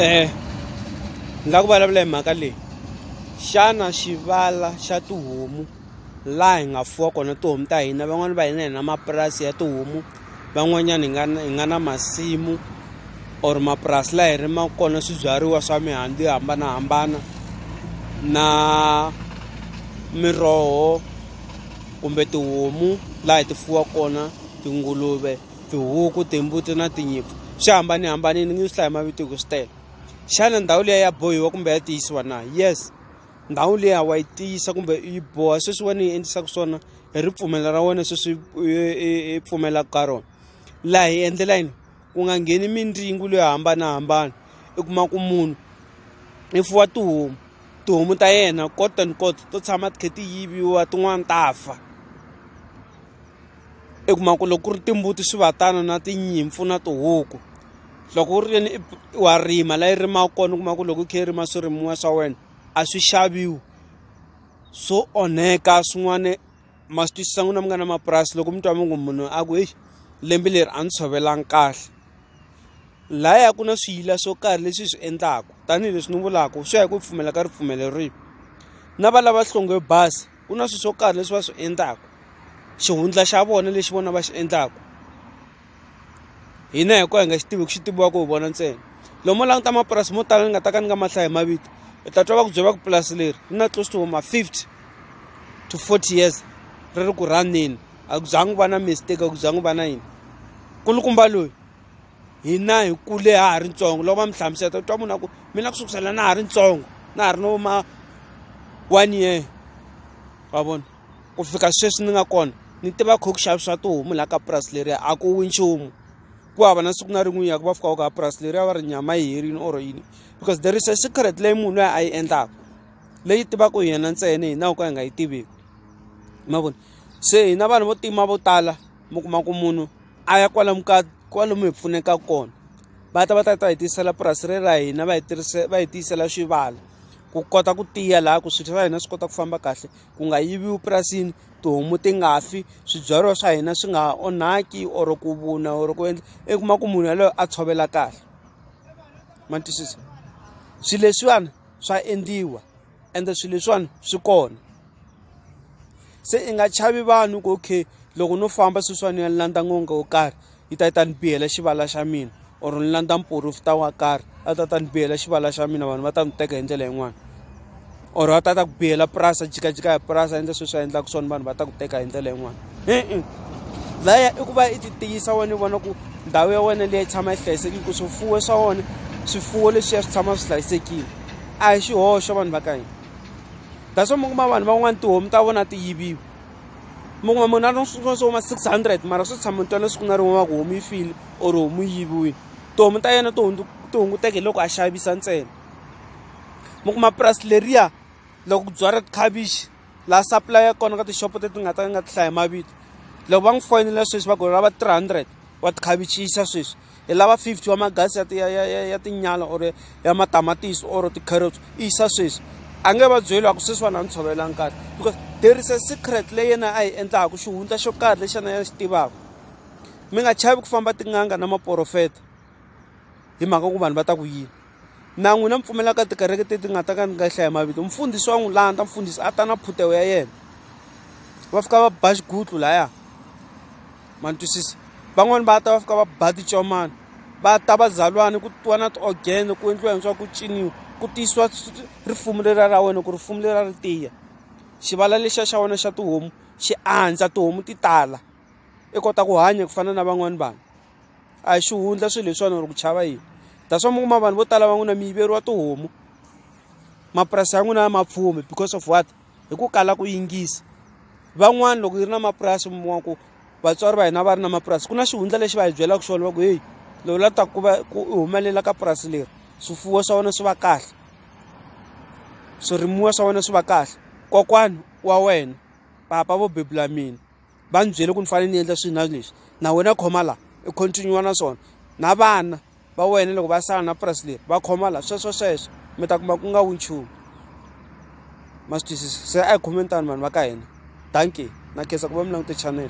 Eh, ni lava ku vulavula hi mhaka leyi. Xana xivala xa tihomu laha hi nga fuwa kona tihomu ta hina van'wani va hina hi na mapurasi ya tihomu, van'wanyana hi nga na hi nga na masimu or mapurasi laha hi rimaka kona swibyariwa swa mihandzu yo hambanahambana na miroho kumbe tihomu laha hi ti fuwaka kona tinguluve. tihuku timbuti na tinyimpfu swi hambanihambanile ni nge swi hlayi mavito hi ku swi tele xana ndhawu liya ya bohiwa kumbe ya tiyisiwa na yes ndhawu liya wa yi tiyisa kumbe yi boha sweswi wena yi endlisaka swona hi ripfumelo ra wena sweswi i pfumelaka ka rona laha hi endlela yini ku nga ngheni mindzingu leyo hambanahambana i kuma ku munhu i fuwa tihomu tihomu ta yena kot and kot to tshama ti kha ti yiviwa tin'wani ta fa. i kuma ku loko ku ri timbuti swi va tano na tinyimpfu na tihuku loko u ri yini wa rima la yi rimaka kona u kuma ku loko u kha yi rima swirimiwa swa wena a swi xaviwi swo onheka swin'wana ma swi twisisa n'wina mi nga na mapurasi loko mi twa mi ngo munhu a ku heyi lembe leri a ni tshovelanga kahle laya ku na swiyila swo karhi leswi hi swi endlaku tanihileswi ni vulaku swi ya hi ku pfumela ka ripfumelo rihi na valava hlonge bazi. ku na swilo swo karhi leswi va swi endlaka xihundla xa vona lexi vona va xi endlaka hina hi ku hi nga xi tivi ku xi tiviwaka hi vona ntsena lomu languta mapurasi mo tala ni nga ta ka ni nga mahlaya hi mavito u ta twa va ku byela va ku purasi leri ri na close to ma fifty to forty years ri ri ku rhanini a ku zangi va na mistake a ku zangi va na yini kulukumba loyi hina hi kule ha ha ri ntsongo loko va mi hlamuseta u twa munhu a ku mina ku sukusela na ha ri ntsongo na ha ri no ma one year wa vona ku fika sweswi ni nga kona ni tiva kha ku xavisiwa tihomu laha ka purasi leriya a ku wi nchumu ku hava na siku na rin'we ya ku va fikaka ka purasi leriya va ri nyama yi herile or yini because there is a secret leyi munhu loyi a yi endlaka leyi tivaka hi yena ntsena hina ho ka hi nga yi tiveki ma vona se hina vanhu vo tima vo tala mi kuma ku munhu a ya kwalomu ka kwalomu hi pfuneka kona va ta va ta ta hi tiyisela purasi re ra hina va hi tirhise va hi tiyisela swivala ku kota ku tiya laha ku swilo swa hina swi kota ku famba kahle ku nga yiviwi purasini tihomu ti nga fi swibyariwa swa hina swi nga onhaki or ku vuna or ku endla i kuma ku munhu yaloye a tshovela kahle ma twisisa swilo leswiwani swa endliwa. ende swilo leswiwani swi kona se i nga chavi vanhu ku okay loko no famba sweswiwani ya ni landza n'anga wo karhi yi ta yi ta ni bihela xivala xa mina or ni landza muporofita wo karhi a ta ta ni bihela xivala xa mina vanhu va ta ni teka hi ndlela yin'wana or a ta ta ku bihela purasi a jikajika hi purasi a endla sweswi a endlaka swona vanhu va ta ku teka hi ndlela yin'wana e-e laya i ku va i ti tiyisa wena i vona ku ndhawu ya wena leyi tshama yi hlayisekile ku swifuwo swa wona swifuwo leswiya swi tshama swi hlayisekile a hi xihoxo vanhu va ka hina that's why mi kuma vanhu van'wani tihomu ta vona ti yiviwa mi kuma munhu a ri swin'wana swo huma six hundred mara swi tshama ntswalo siku na rin'we wa ku homu yi file or homu yi yiviwile tihomu ta yena to ti hunguteke hi loko a xavisa ntsena mi kuma purasi leriya loko ku byala tikhavichi laha supply ya kona ka tixopo teti nga ta nga ti hlaya mavito loko va n'wi foyinela sweswi va ku lava three hundred wa tikhavichi yisa sweswi hi lava 50 wa magasi ya, ya, ya, ya, ya tinyala or ya matamatisi or ti-carrots i yisa sweswi a nge va byeli wa ku sweswiwani a ni tshovela nkarhi because there is a secret leyi yena a yi endlaka xihundla xo karhi lexi yena ya xi tivaka mi nga chavi ku famba tin'anga na maporofeta hi mhaka ku vanhu va ta ku yini na n'wina mi pfumela ka tikereke teti nga ta ka ni nga hlaya mavito mfundhisi wa n'wi landza mfundhisi a ta na phutewo ya yena va fika va ba xigutlu laya ma ni twisisa van'wani va ta va fika va ba ticomana va ta va zalwani ku tiwa na ti-organ ku endliwa hintswa ku ciniwa ku tiyisiwa rifumu leriya ra wena ku rifumu leriya ri tiya xivala lexiya xa wena xa tihomu xi andza tihomu ti tala. i kota ku hanya ku fana na van'wani vanhu a hi xihundla swilo leswiwani or ku chava yini that's why mi kuma vanhu vo tala va n'wina mi yiveriwa tihomu mapurasi ya n'wina ya mapfumi because of what hi ku kala ku yingisa van'wani loko yi ri na mapurasi mi kuma ku vatswari va hina va ri na mapurasi ku na xihundla lexi va hi byelaka xona va ku heyi lowu la ta ku va ku i humelela ka purasi leri swifuwo swa wena swi va kahle swirimiwa swa wena swi va kahle kokwana wa wena papa vo bebula mina va ni byele ku ni fane ni endla swi na leswi na wena khoma la i continue na swona na vana va wena loko va sala na purasi leri va khoma la sweswo sweswo mi ta kuma ku nga wu nchumu ma swi twisisa se a hi khomeni tani vanhu va ka hina dankie na khensa ku va mi langute chanel.